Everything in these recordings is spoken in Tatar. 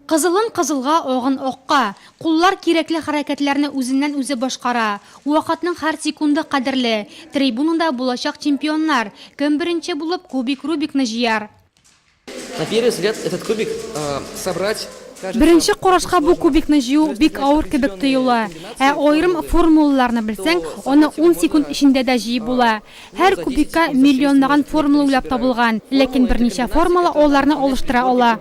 Кызылын кызылга, агын акка. Куллар кирәкле хәрәкәтләрне үзеннән-үзе башкара. Вакытның һәр секунды кадерле. Трибунада булачак чемпионнар. Кем беренче булып кубик Рубикны җыяр? На первый взгляд этот кубик собрать кажется очень сложно. Беренче карашка бу кубикны җыю бик авыр кебек тоела. Ә аерым формулаларны белсәң, аны ун секунд эчендә дә җыеп була. Һәр кубикка миллионлаган формула уйлап табылган, ләкин берничә формула аларны алыштыра ала.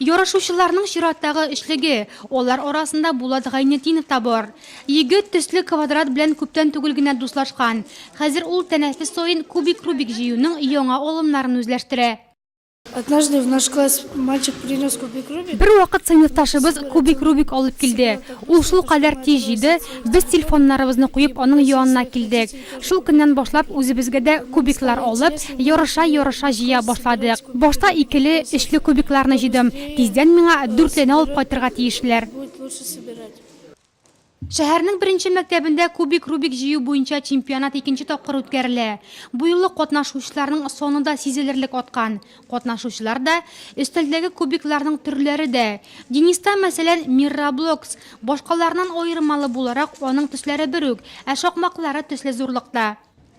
Ярышучыларның чираттагы өчлеге, алар арасында Булат Гайнетдинов та бар. Егет төсле квадрат белән күптән түгел генә дуслашкан. Хәзер ул тәнәфес саен кубик-рубик җыюның яңа алымнарын үзләштерә. Однажды в наш класс мальчик принес кубик Рубик. Бер вакыт сыйныфташыбыз кубик Рубик алып килде. Ул шул кадәр тиз җиде, без телефоннарыбызны куеп аның янына килдек. Шул көннән башлап үзебезгә дә кубиклар алып, ярыша-ярыша җыя башладык. Башта икеле, өчле кубикларны җыйдым. Тиздән миңа дүртлене алып кайтырга тиешләр. Шәһәрнең беренче мәктәбендә кубик-рубик җыю буенча чемпионат икенче тапкыр үткәрелә. Бу юлы катнашучыларның саны да сизелерлек аткан. Катнашучылар да, өстәлдәге кубикларның төрләре дә. Дениста, мәсәлән, Мирраблокс. Башкаларыннан аермалы буларак, аның төсләре бер үк, ә шакмаклары төсле зурлыкта.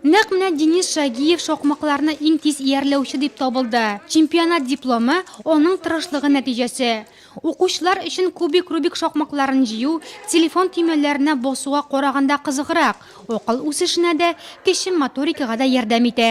Нәкъ менә Денис Шагиев шакмакларны иң тиз иярләүче дип табылды. Чемпионат дипломы, аның тырышлыгы нәтиҗәсе. Укучылар өчен кубик-рубик шакмакларын җыю телефон төймәләренә басуга караганда кызыграк, акыл үсешенә дә, кече моторикага да ярдәм итә.